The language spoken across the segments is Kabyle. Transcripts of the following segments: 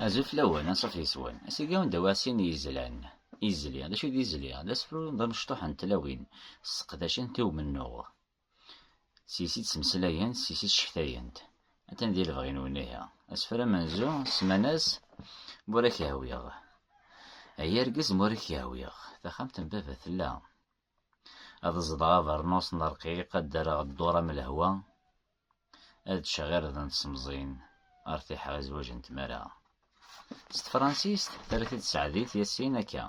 Azul fell-awen, anṣuf yes-wen. Asigi anda wa sin yizlan. Izli, d acu i d izli? D asefru d amecṭuḥ n tlawin sseqdacent i umennuɣ. Seg-s i ttmeslayent, seg-s i ccektayen-t. Atan di lebɣi-nwen ihi. Asefru amenzu semman-as Ma ur ak-yehwiɣ. Ay argaz ma ur ak-yehwiɣ. Taxxamt n baba tella. Ad ẓḍeɣ abernus n rqiq, ad d-rreɣ dduṛ am lehwa, ad ččeɣ irden n tsemẓin, ar tiḥeɣ i zzwaǧ n tmara. S tefransist, terra-t-id Tseɛdit Yassin akka,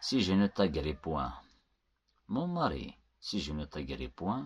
Si je ne t'agrippoint, mon mari, si je ne t'agrippoint,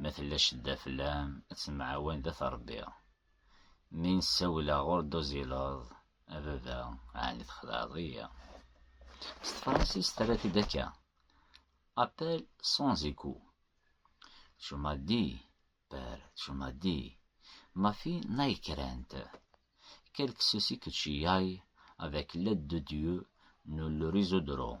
Ma tella cedda fell-am, ad temɛawan d at Ṛebbi. Mi n-ssawleɣ ur d-tuzileḍ, a baba, ɛni txedɛeḍ-iyi? S tefransist terra-t-id akka, Appel sans écout. Tu m'as dit, père, tu m'as dit, ma fille n'aie crainte. Quelque souci que tu aies, avec l'aide de Dieu, nous le résoudrons.